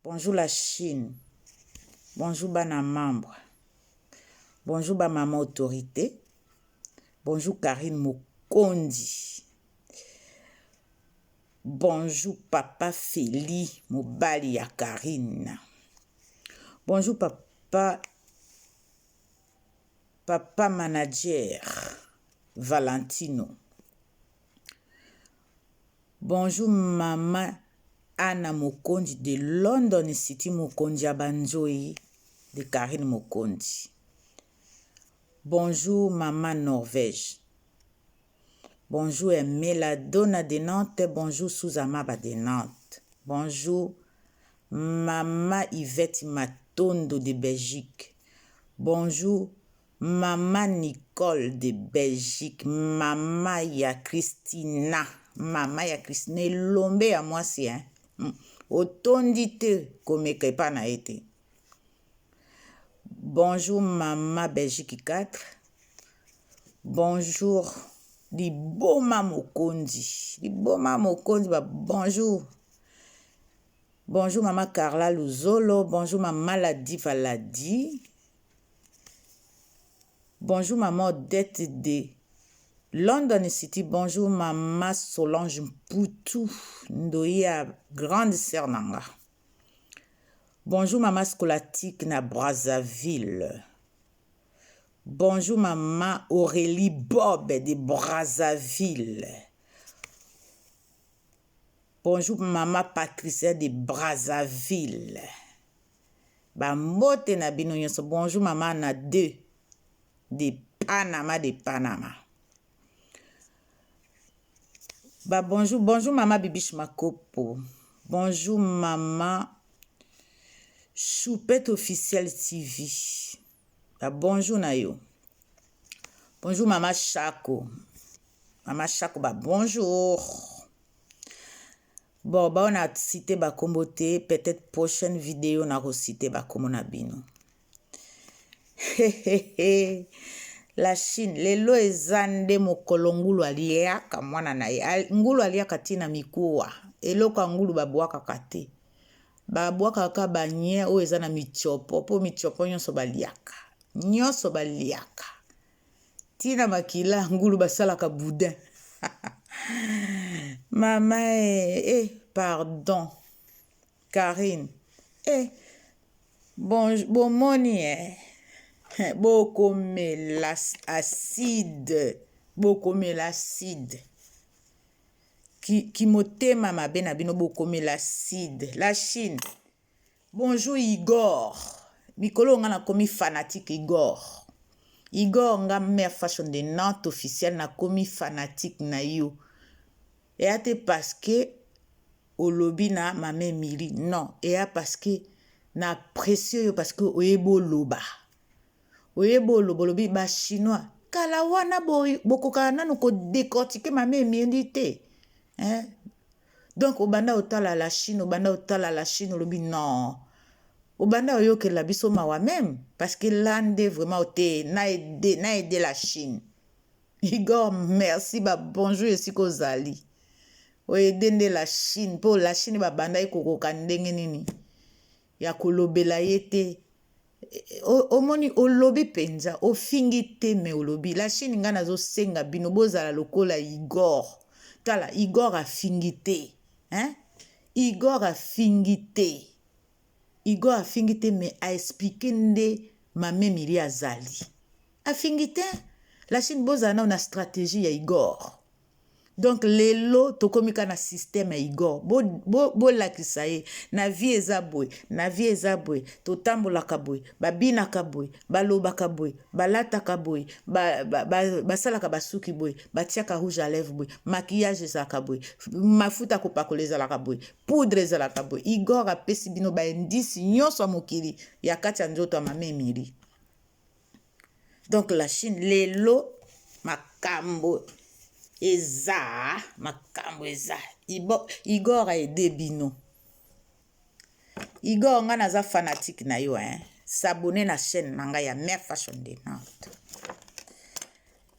Bonjour la chine bonjour bana membre bonjour ba mama autorité bonjour Carine Mokonzi bonjour papa Feli mobali ya Carine bonjour papa papa manager Valentino Bonjour maman Anna Mokonzi de London city mokonzi ya ba nzoyi de Carine Mokonzi Bonjour maman Norvège Bonjour Emela Dona de Nantes Bonjour Souza Maba de Nantes Bonjour maman Yvette Matondo de Belgique Bonjour Maman Nicole de Belgique maman ya Christina maman ya Christina elombe ya muasi hein hum otondi te komeka epa na ye te bonjour maman Belgique 4 bonjour liboma mokonzi liboma mokonzi ba bonjour bonjour maman Carla Luzolo bonjour maman Ladi Valadi Bonjour maman Odette de London City. Bonjour maman Solange Mputu Ndoya grande sœur nanga. Bonjour maman Scolastique na Brazzaville. Bonjour maman Aurélie Bob de Brazzaville. Bonjour maman Patricia de Brazzaville. Ba mbote na bino nioso bonjour mama na de de panama de panama ba bonjour bonjour mama bibiche makopo bonjour mama choupette officiel tv ba bonjour na yo bonjour mama chako mama chako ba bonjour Bon ba oyo na cite ba kombo te peut etre prochaine video nako cite ba kombo na bino la chine lelo eza nde mokolo ngulu aliaka mwana na ye ngulu aliaka ti na mikuwa eloko ya ngulu babwakaka te babwakaka ka banye oyo eza na mitiopo mpo mitiopo nyonso baliaka nyonso baliaka ti na makila ngulu basalaka boudin mama eh, eh pardon karine eh bon bomoni eh bokomela acide bokomela acide kimotema ki mabe na bino bokomela acide la chine Bonjour Igor mikolo oyo nga na komi fanatique Igor Igor nga mère fashion de Nantes officiel na komi fanatique na yo eya te parce que olobi na mama Emily non eya parce que na apprécier yo parce que oyebi oloba oyebi oloba olobi ba chinois kala wana bokokaka nanu ko decortiquer mama Emily te hein donc obanda otala la chine obanda otala la chine olobi non obanda oyokela biso mawa meme parce que là nde vraiment ote na aide na aide la chine igor merci ba bonjour esika ozali oede nde la chine mpo la chine babandaki kokoka ndenge nini ya kolobela ye te omoni olobi penza ofingi te me olobi la chine ngai nazosenga bino bozala lokola igor tala igor afingi te hein? igor afingi te igor afingi te me aexplike nde mamemili azali afingi te la chine bozala nao na stratégie ya igor Donc lelo tokomi ka na système ya Igor. Bo, bo, bolakisa ye na vie eza boye, na vie eza boye, totambolaka boye, babinaka boye, balobaka boye, balataka boye, ba, ba, ba, basalaka basuki boye, batiaka rouge à lèvres boye, maquillage ezalaka boye, mafuta ya kopakola ezalaka boye, poudre ezalaka boye. Igor apesi bino ba indice nyonso ya mokili ya kati ya nzoto ya mama Emilie. donc la chine lelo makambo eza makambo eza igor a aide bino igor ngai naza fanatique na yo hein s'abonne na chaîne na ngai ya mère fashion de nante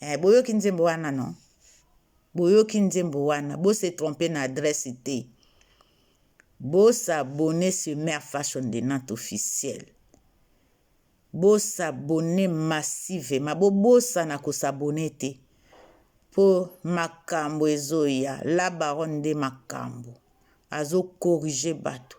Eh, boyoki nzembo wana no? Boyoki nzembo wana, bo se tromper na adresse te. Bo s'abonner sur Mère Fashion de Nantes officiel. Bo s'abonner massivement, bo bosana ko s'abonner te. Po makambo ezoya, la baronne nde makambo. Azo corriger bato.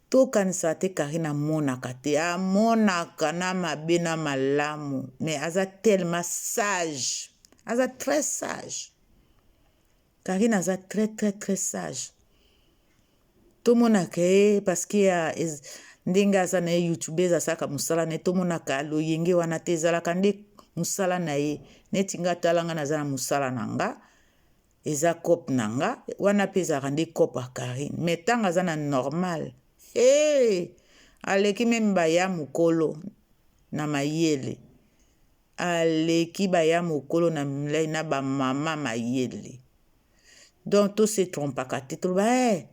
To kanisa te carine amonaka te amonaka na mabe na malamu mais aza tellement sage aza très sage carine aza très très très sage tomonaka ye parce que ya ndenge aza na ye youtubeuse asaka mosala na ye tomonaka loyenge wana te ezalaka nde mosala na ye neti nga tala nga naza na mosala na nga Eza coop na nga wana pe ezalaka nde coop ya Carine mais tango aza na normal hee aleki meme ba ya mukolo na mayele aleki ba ya mukolo na mlai na ba maman mayele donc to se trompaka te toloba eh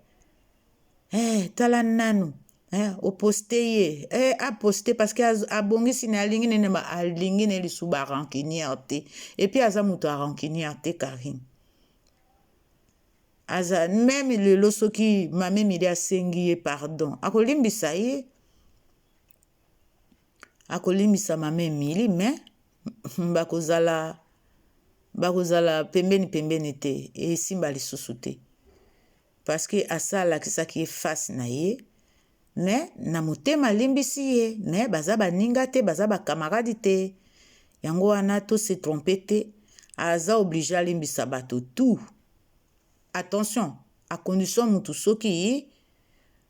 eh, tala nanu eh, oposte ye eh, aposte parce que abongisi na alingi nene ma alingi ne lisu ba rancunière te et puis aza moto ya rancunière te Karine aza meme lelo soki mame mili asengi ye pardon akolimbisa ye akolimbisa mame mili mais bakozala bakozala pembeni pembeni te esimba lisusu te Parce que asa alakisaki ye face na ye mais na motema alimbisi ye mais baza baninga te baza ba camarade te yango wana to se tromper te aza oblige alimbisa bato tout attention à condition mutu soki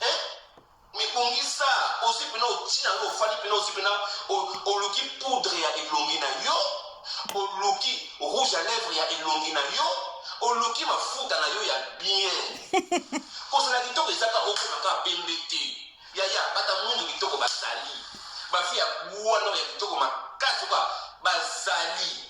eh? mibongisa ozwi mpena oti na yo ofandi mpena ozwi mpena oluki poudre ya elongi na yo oluki rouge à lèvre ya elongi na yo oluki mafuta na yo ya bien kozala kitoko ezaka okoma kaka pembe te yaya bata mundu kitoko bazali bafi ya bwana ya kitoko makasi kwa bazali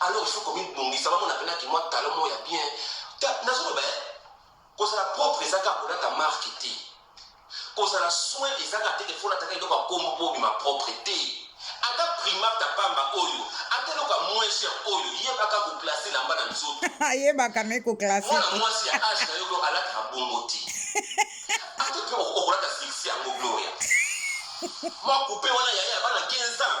Alors il faut komi bongisa ba mona pena ki mwa talon moko ya bien. Ta nazo loba eh kozala propre eza kaka kolata marque te. Kozala soin eza kaka te ke faut olata kaka eloko ya kombo po obima propre te. Ata primate ya pamba oyo, ata eloko ya moins cher oyo, yeba kaka ko placer lamba na nzoto. Ayebaka me ko classe. Mwana mwasi ya age na yo blo alataka bongo te. Ata pe o- okolata sexy yango Gloria. Mwa coupe wana yaya ya bana 15 ans.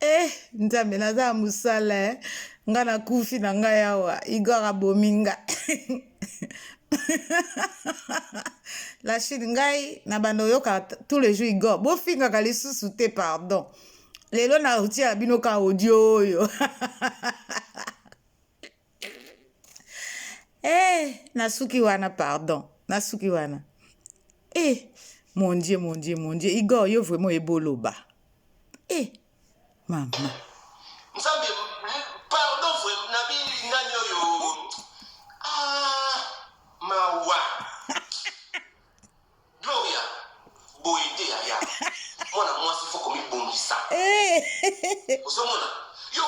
Eh, nzambe naza ya mosala eh. nga nakufi na ngai awa igor abomi nga la chine ngai na banda oyoka tous les jours igor bofingaka lisusu te pardon lelo na otiela bino ka audio oyo Eh, nasuki wana pardon. Nasuki wana. Eh, mon Dieu, mon Dieu, mon Dieu. Igor, yo vraiment eboloba. Eh, mama. nzambe pardon vraimen na bilingani oyo ah, mawa Gloria boye te yaya mwana mwasi fo komibongisa eh. ozomona yo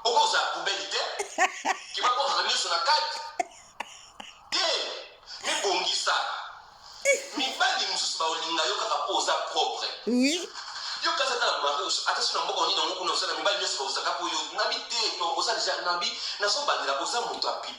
okozala poubele te kibakozala nyonso na kati te mibongisa mibali mosusu baolinga yo kaka mpo oza propre yo kasi ata na mariage ata so na mboka onini yango kuna osala mibali nyonso bakozaka mpo yo nabi te oza deja nabi nazobandela oza moto ya pipi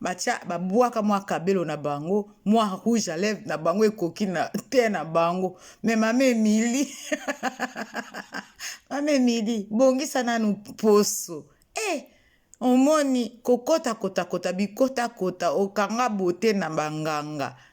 batia babwaka mwa kabelo na bango mwa rouge à lèvres na bango ekoki na te na bango me mama emili mama emili bongisa nanu poso e eh, omoni kokota kotakota bikotakota okanga bote na banganga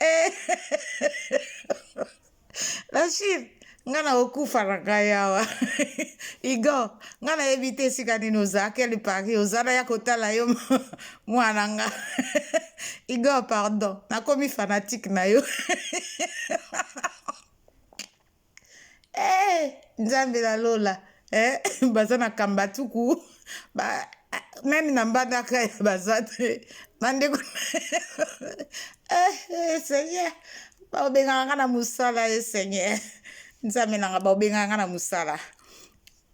eh, Rachid nga na okufa na ngai awa igo nga nayebi te esika nini oza quelle paris oza na ya kotala yo mwana nga igo pardon nakomi fanatique na yo Eh, nzambe na lola eh, baza na kambatuku ba, meme na mbandaka ya baza te bandeko eh, eh, seigneur baobengaka nga na mosala e eh, seigneur nzambe nanga baobengaka nga na mosala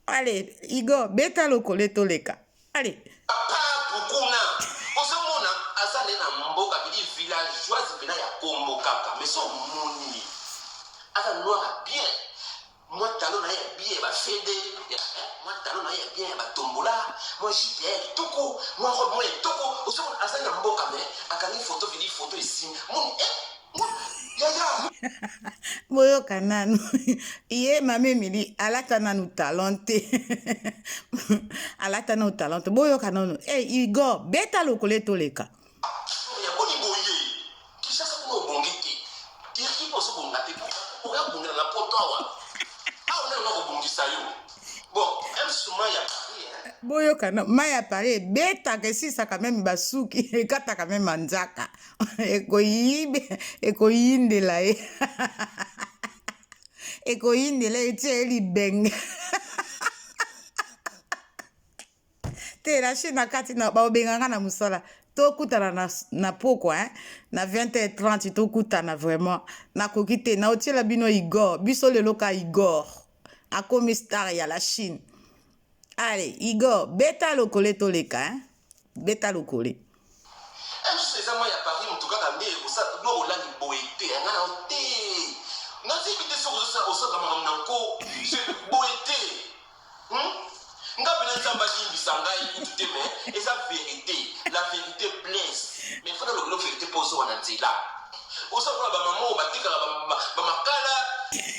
Allez, Igor, beta lokole toleka. Allez. Papa Bukuna, ozomona aza nde na mboka bidi villageoise pena ya kombo kaka, mais so moni aza noir ya bien, mwa talon na ye ya bien ya ba fede, ya eh, mwa talon na ye ya bien ya ba tombola, mwa jupe ya ye kitoko, mwa robe mwa ya kitoko, ozomona aza na mboka mais akangi photo bidi photo esimbi, moni eh, boyoka nanu ye mama emili alata nanu talent te alata nanu talent te boyoka nanu hey, eh, igor beta lokola etoleka boyoka na mai ya pare ebetaka esisaka meme basuki ekataka meme manzaka ekoyibe ekoyindela ye ekoyindela ye tia ye libenge te na chine na kati na baobenga nga na mosala tokutana na, na pokwa hein? na 20h30 tokutana vraiment nakoki te naotiela bino igor biso lelo ka igor akomi star ya la chine ale igor beta lokole toleka hein? beta lokole. Eh mususu eza moi ya Paris mutu kaka nde osa no olangi boye te nga na te na zebi te soki ozosa osaka makambo na nko je boye te hmm? nga pena nzambe alimbisa ngai kutu te me eza verite la verite blesse mais fana lokelo verite mpo ozowa na nzela osa mpona bamama oyo batekaka bamakala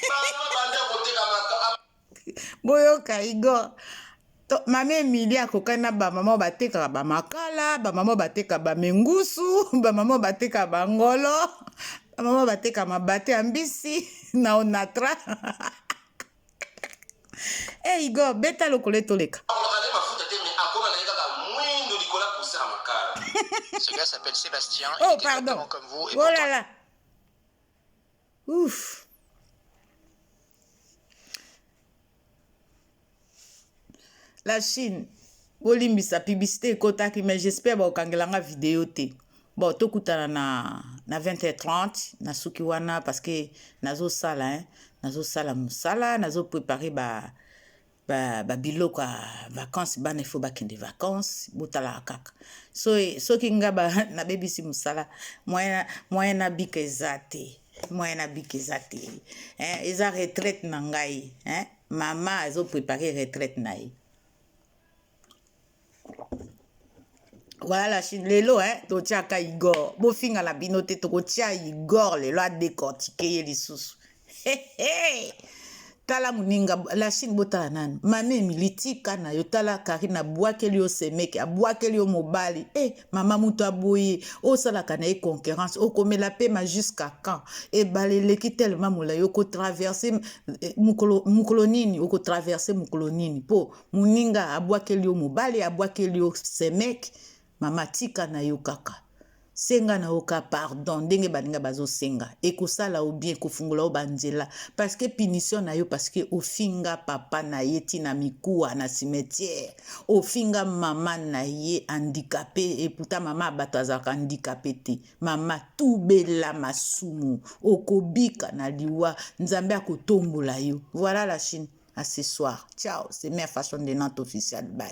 bama banda koteka maka boyoka igor mama emilie akokani na bamama oyo batekaka bamakala bamama oyo bateka bamingusu bamama oyo bateka bangolo bamama oyo bateka mabate ya mbisi na onatra e eh, igor beta lokolo etoleka oh pardon oh là là Ouf. La Chine, bolimbisa publicité ekotaki mais j'espère bakokangela nga video te. Bon, tokutana na na 20h30 nasuki wana parce que nazosala hein, nazosala mosala, nazo préparer ba ba, ba biloko ya vacances bana il faut bakende vacances botalaka kaka so, soki nga ba, nabebisi mosala moyen moyen nabika eza te moyen nabika eza te hein, eza retraite na ngai hein? mama azoprepare retraite na ye Voilà la Chine. Lelo, hein, totiaka Igor. Bofinga na bino te, tokotia Igor lelo a décortiquer ye lisusu. He he. Tala muninga la Chine botala nani. Mami Emily tika na yo tala Karine abwakeli yo semeke, abwakeli yo mobali. Eh, mama mutu aboye, osalaka na ye concurrence, okomela pema jusqu'à quand? Ebale eleki tellement molayi, oko traverser eh, mukolo mukolo nini, oko traverser mukolo nini po Muninga abwakeli yo mobali abwakeli yo semek mama tika na yo kaka senga na yo ka pardon ndenge baninga bazo senga ekosala yo bien kofungola yo ba nzela parce que punition na yo parce que ofinga papa na ye ti na mikuwa na cimetière ofinga mama na ye handicapee et pourtant mama ya batu azalaka handicapee te Mama tubela masumu okobika na liwa nzambe akotombola yo voilà la chine à ce soir ciao c'est mère fashion de nantes official bye.